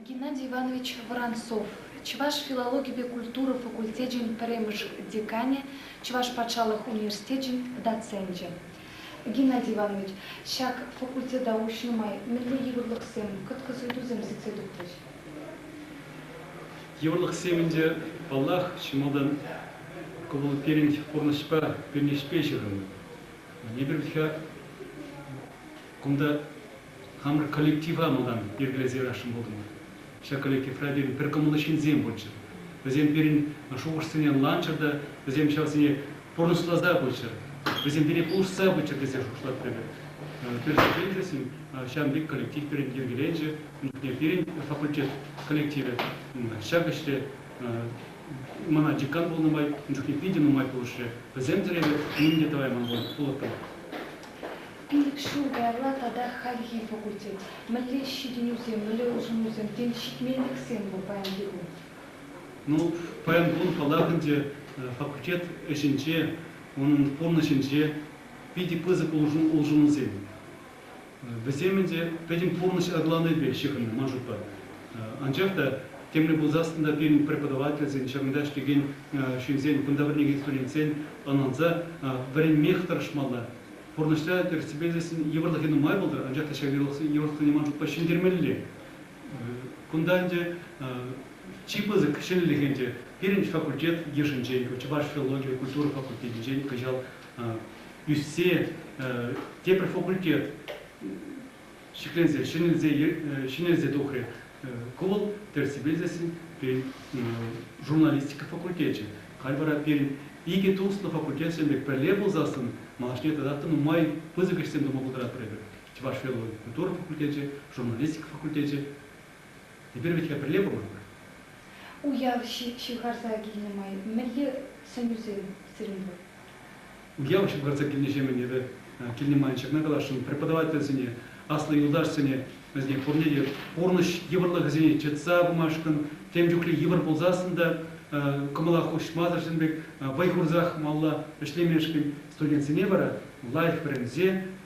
Геннадий Иванович Воронцов, чӑваш филологипе культура факультечӗн пӗрремӗш деканӗ, Чӑваш патшалӑх университечӗн доценчӗ. Геннадий Иванович, ҫак факультета уҫнӑ май мӗнле йывӑрлӑхсем, кӑткӑс-ыйтусем сиксе тухрӗҫ? Йывӑрлӑхсем ӗнтӗ, паллах, чи малтан кӑмӑл пирӗн пурнӑҫпа, пӳрнеҫпе ҫыхӑннӑ. Эпир вӗт-ха кунта Хамӑр коллектива малтан йӗркелесе ярасшӑн пултӑмӑр. Ҫак коллективра пирӗн пӗр кӑмӑллӑ ҫынсем пулччӑр. Вӗсем пирӗн шухӑшсене ӑнланччӑр та вӗсем ҫавсене пурнӑҫласа пыччӑр, вӗсем пире пулӑшса пыччӑр тесе шутлаттӑм эпир. Тӗрӗсене тӗрӗсӗн ҫавӑн пек коллектив пирӗн йӗркеленчӗ. Ун чухне пирӗн факультет коллективӗ ҫак ӗҫре мана декан пулнӑ май ун чухне питӗ нумай пулӑшрӗ. Вӗсемсӗр эпӗ нимӗн те тӑвайман пулӑттӑмӑр. Пилӗк ҫул каялла тата хальхи факультет, мӗнле ҫитӗнӳсем, мӗнле улшӑнусем, тен, ҫитменлӗхсем пур паянхи кун? Ну, паян кун паллах ӗнтӗ, факультет ӗҫӗнче, унӑн пурнӑҫӗнче питӗ пысӑк улшӑнусем. Вӗсем ӗнтӗ пӗтӗм пурнӑҫ аталанӑвӗпе ҫыхӑннӑ, ман шутпа. Анчах та темле пулсассӑн та пирӗн преподавательсен, ҫакӑнта ӗҫлекен ҫынсен, кунта вӗренекен студентсен ӑнланса, вӗренмех тӑрӑшмалла. пурнӑҫра тӗрӗссипе илсен йывӑрлӑхӗ нумай пултӑр, анчах та ҫак йывӑрлӑхсене ман шутпа ҫӗнтермелле. Кунта ӗнтӗ чи пысӑк ҫӗнӗлӗх ӗнтӗ пирӗн факультет йышӗнчен, чӑваш филологи культура факультетӗнчен кӑҫал ӳссе тепӗр факультет ҫӗкленсе, ҫӗнелсе тухрӗ. Ку вӑл тӗрӗссипе илсессӗн пирӗн журналистика факультечӗ. Халь вара пирӗн икӗ туслӑ факультетшӑн пек пӗрле пулсассӑн малашне тата та нумай пысӑк ӗҫсем тума пултаратпӑр эпир. Чӑваш филологи культура факультечӗ, журналистика факультечӗ. Эпир вӗт-ха пӗрле пыманпӑр. Уяв ҫывхарса килнӗ май мӗнле сӗнӳсем сирӗн пур? Уяв ҫывхарса килнӗҫемӗн эпӗ килне ман ҫакна каласшӑн, преподавательсене, аслӑ юлташсене, вӗсене пурне те пурнӑҫ йывӑрлӑхӗсене чӑтса пымашкӑн, тем чухлӗ йывӑр пулсассӑн та кӑмӑла хуҫмасӑршӑн пек вӑй хурсах малалла ӗҫлемешкӗн студентсене вара лайӑх вӗренсе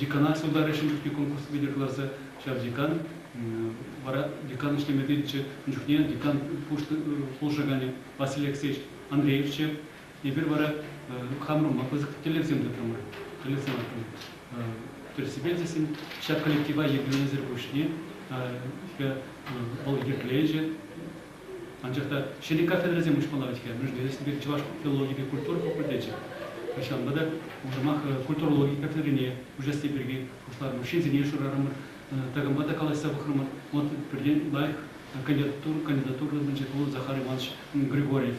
Деканат сударӗ ҫын чухне конкурс витӗр кӑларса ҫав декан вара декан ӗҫлеме тытӑнчӗ. Ун чухне декан пулӑшаканӗ Василий Алексеевич Андреевчӗ. Эпир вара хамӑрӑнпа пысӑк тӗллевсем тытрӑмӑр. Тӗллевсем арканӑ тӗрӗссипе тесен ҫак коллектива йӗркеленисӗр пуҫне вӑл йӗркеленӗ Анчах та ҫӗнӗ кафедрӑсем уҫмалла вӗт-ха. Мӗншӗн тесен пирӗн чӑваш филологипе культура факультечӗ кӑҫалпа та уҫӑмах культура логики кафедрине уҫасси пирки пуҫларӑмӑр, ҫынсене шырарӑмӑр, такампа та калаҫса пӑхрӑмӑр. Вот пӗртен лайӑх кандидатура кандидатура тытӑнчӗ, вӑл Захар Иванович Григорьев.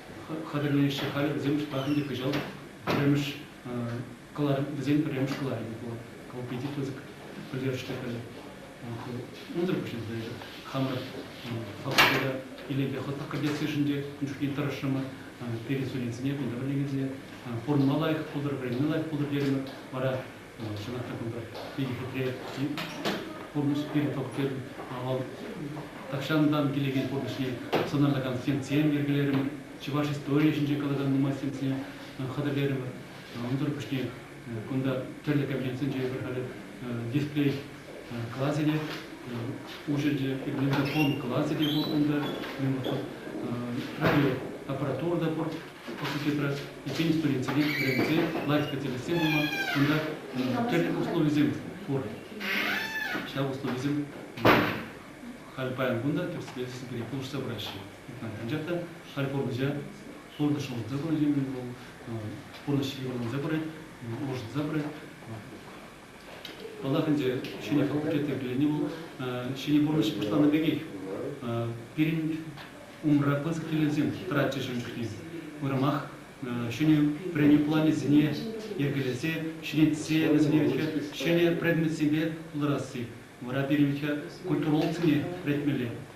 хатӗрлеҫҫӗ халӗ вӗсем шӑпах ӗнтӗ кӑҫал пӗрремӗш кӑларӑм вӗсен пӗрремӗш кӑларӑмӗ пулӑ колпити пысӑк пӗлтерӗшлӗ халӗ унсӑр пуҫӑнса эсӗ хамӑр факультета илемпе хӑтлӑх кӗртессишӗн те ун чухне тӑрӑшрӑмӑр перед студентсене кунта вӗренекенсене пурӑнма лайӑх пултӑр вӗренме лайӑх пултӑр терӗмӗр вара Чӑнах та кунта питӗ хитре пурнӑҫ пирӗн тӑвӑксем вӑл тахҫантан килекен пурнӑҫне сӑнарлакан стендсем йӗркелерӗмӗр, чӑваш историйӗ ҫинче калакан нумай стендсене хатӗрлерӗмӗр. Унсӑр пуҫне кунта тӗрлӗ кабинетсенче эпир халӗ дисплей класӗ те уҫӑлчӗ, магнитофон класӗ те пур унта, радиоаппаратура та пур. факультетра пӗччен студентсене вӗренсе лайӑх специалистсем пулма, кунта тӗрлӗ условисем пур. Ҫав условисем халь паян кун та тӗрӗссипе пире пулӑшса пыраҫҫӗ. Анчах та халь пурнӑҫа пурнӑҫ улшӑнса пырать, пурнӑҫ йывӑрланса пырать, улшӑнса пырать. Паллах ӗнтӗ ҫӗнӗ хӑл кӗртнӗ пирӗнни вӑл ҫӗнӗ пурнӑҫ пуҫланнӑ пекех. Пирӗн умра пысӑк тӗллевсем тӑратчӗҫ ӗнтӗ. Уйрӑмах ҫӗнӗ вӗренӳ планӗсене йӗркелесе ҫӗнетсе вӗсене ҫӗнӗ предметсемпе пултарасси. Вара пирӗн культурологсене вӗрентмелле,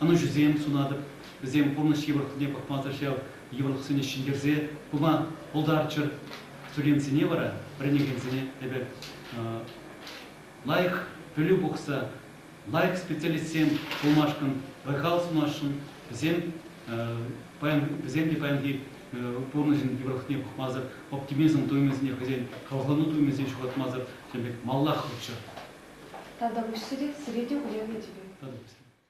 ӑнӑҫусем сунатӑп. Вӗсем пурнӑҫ йывӑрлӑхне пӑхмасӑр ҫав йывӑрлӑхсене ҫӗнтерсе пыма пултарччӑр. Студентсене вара, вӗренекенсене эпӗ лайӑх пӗлӳ пухса, лайӑх специалистсем пулмашкӑн, вӑй-хал сунасшӑн. Вӗсем вӗсем те паянхи пурнӑҫӑн йывӑрлӑхне пӑхмасӑр, оптимизм туйӑмӗсене хӑйсен хавхалану туйӑмӗсене ҫухатмасӑр тем пек маллах лӑпчӑр. Тата пуҫсӗре, сире те уявӗ тивӗ. Тата пуҫсӗре.